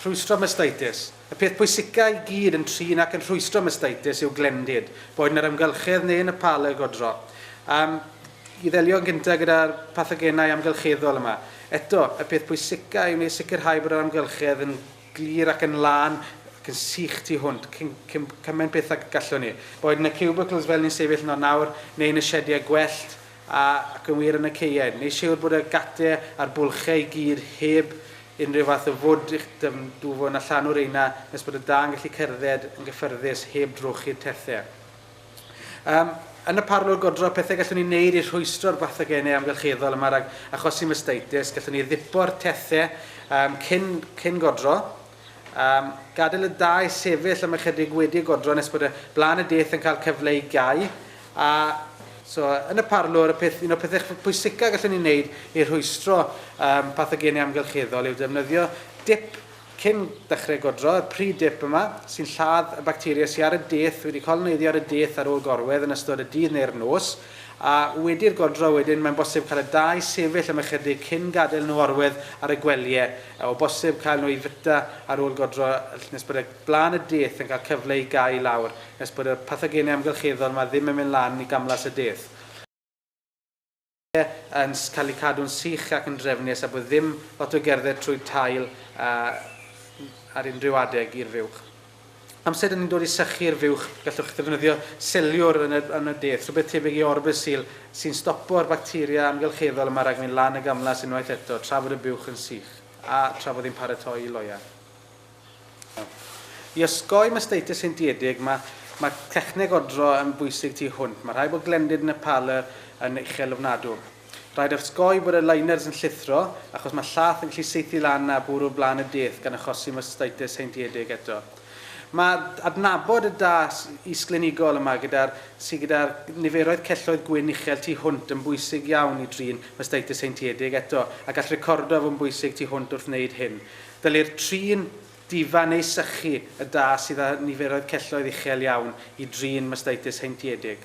Rhwystro mastitis. Y peth pwysica i gyd yn trin ac yn rhwystro mastitis yw glendid, boed yn yr amgylchedd neu yn y pal y godro. Am i ddelio yn gyntaf gyda'r pathogenau amgylcheddol yma. Eto, y peth pwysica yw wneud sicrhau bod yr amgylchedd yn glir ac yn lân ac yn sych tu hwnt, cyn, cyn cymaint beth ag y gallwn ni. Boed yn y cubicles fel ni'n sefyll yno nawr, neu yn y siediau gwellt, A, ac yn wir yn y caeau. Neu siwr bod y gate a'r bwlchau i gyd heb unrhyw fath o fwd i'ch dymdwfo na llanw reina nes bod y da'n gallu cerdded yn gyffyrddus heb drochi'r tethau. Yym, yn y parlwr godro, pethau gallwn ni wneud i rhwystro'r bathogenau amgylcheddol yma rhag achosi mastitis, gallwn ni ddippo'r tethau yym cyn, cyn godro, Am gadael y dau sefyll am ychydig wedi y godro nes bod y Blaen y Deith yn cael cyfle i gau. A so, yn y parlwr, y peth, un o'r pethau pwysicaf gallwn ni wneud i rhwystro um, pathogeni amgylcheddol yw defnyddio dip cyn dechrau godro, y pre-dip yma, sy'n lladd y bacteria sydd ar y deith wedi coloneiddio ar y deith ar ôl gorwedd yn ystod y dydd neu'r nos. A wedi'r godro wedyn, mae'n bosib cael y dau sefyll am ychydig cyn gadael nhw orwedd ar y gwelye, a o bosib cael nhw i fwyta ar ôl godro nes bod y blaen y deth yn cael cyfle i gau lawr, nes bod y pathogenau amgylcheddol yma ddim yn mynd lan i gamlas y deth. yn cael eu cadw'n sych ac yn drefnus a bod ddim lot o gerdded trwy tail ar unrhyw adeg i'r fuwch. Amser dyn ni'n dod i sychu'r fuwch, gallwch ddefnyddio seliwr yn y, yn y deth, rhywbeth tebyg i Orbesil, sy'n stopo'r bacteria amgylcheddol yma rhag mynd lan y gamlas unwaith eto tra fod y buwch yn sych a tra fod hi'n paratoi i loeau. I osgoi mastitis heintiedig, mae, mae techneg odro yn bwysig tu hwnt. Mae rhai bod glendid yn y parlour yn uchel ofnadw. Rhaid osgoi bod y liners yn llithro achos mae llath yn gallu saethu lan na bwrw blaen y deith gan achosi mastitis heintiedig eto. Mae adnabod y da is-glinigol yma gyda'r sydd gyda'r niferoedd celloedd gwyn uchel tu hwnt yn bwysig iawn i drin mastitis heintiedig eto a gall recordo fod yn bwysig tu hwnt wrth wneud hyn. Dylai'r trin difa neu sychu y da sydd â niferoedd celloedd uchel iawn i drin mastitis heintiedig.